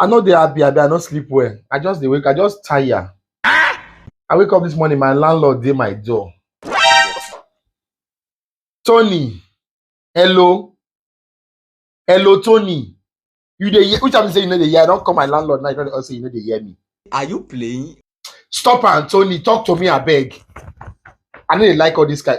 I no dey happy, abi I no sleep well. I just dey wake, I just tire. I wake up this morning, my landlord dey my door. Tony, hello, hello, Tony. You dey hear? Which time you say you no dey hear? I don call my landlord now. You don say you no dey hear me. Are you playing? Stop am, Tony. Talk to me, abeg. I no dey like all this kind.